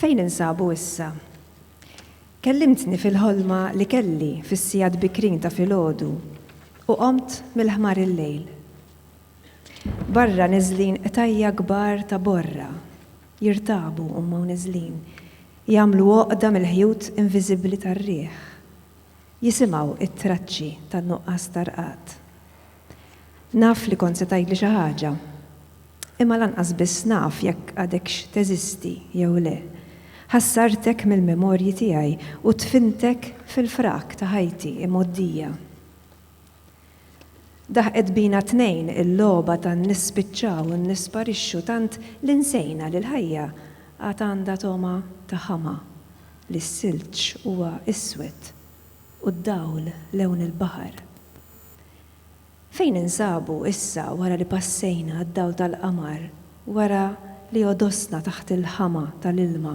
Fejn ninsabu issa? Kellimtni fil-ħolma li kelli fis-sigħat bikrin ta' filgħodu u qomt mill-ħmar il-lejl. Barra niżlin qtajja' kbar ta' borra, jirtabu huma u niżlin, jagħmlu għoqda mill-ħjut inviżibbli tar-riħ. Jisimgħu t-traċċi tan-nuqqas ta' rqad. Naf li kont se tgħidli xi ħaġa. Imma lanqas biss naf jekk għadekx teżisti jew le. Ħassartek mill-memorji tiegħi u dfintek fil-frak ta' ħajti imgħoddija. Daħqet bina t-tnejn il-logħba ta' nispiċċaw u nisparixxu tant li nsejna li l-ħajja għad għandha togħma ta' ħama, li s-silġ huwa iswed u d-dawl lewn il-baħar. Fejn ninsabu issa wara li passejna għad-dawl tal-qamar, wara li għodosna taħt il-ħama tal-ilma?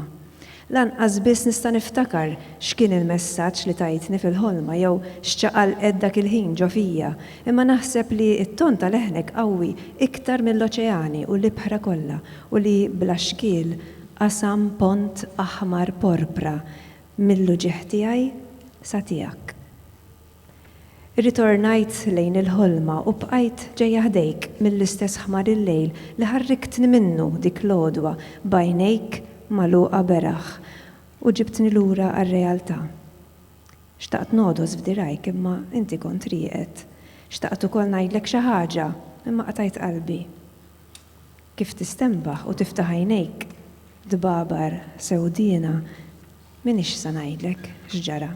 Lanqas biss nista' niftakar x'kien il-messaġġ li tajtni fil-ħolma jew x'ċaqalqet dak il-ħin ġo fija, imma naħseb li t-ton ta' leħnek qawwi iktar mill-oċeani u l-ibħra kollha u li bla xkiel qasam pont aħmar porpra mill-uġigħ tiegħi sa tiegħek. Irritornajt lejn il-ħolma u bqajt ġejja ħdejk mill-istess ħmar il-lejl li ħarriktni minnu dik l-għodwa b'għajnejk magħluqa beraħ u ġibtni lura għar-realtà. Xtaqt ngħodos f'dirgħajk imma inti kont rieqed. Xtaqt ukoll ngħidlek xi ħaġa imma qtajt qalbi. Kif tistenbaħ u tiftaħ għajnejk dbabar sewdiena, m'iniex sa ngħidlek x'ġara.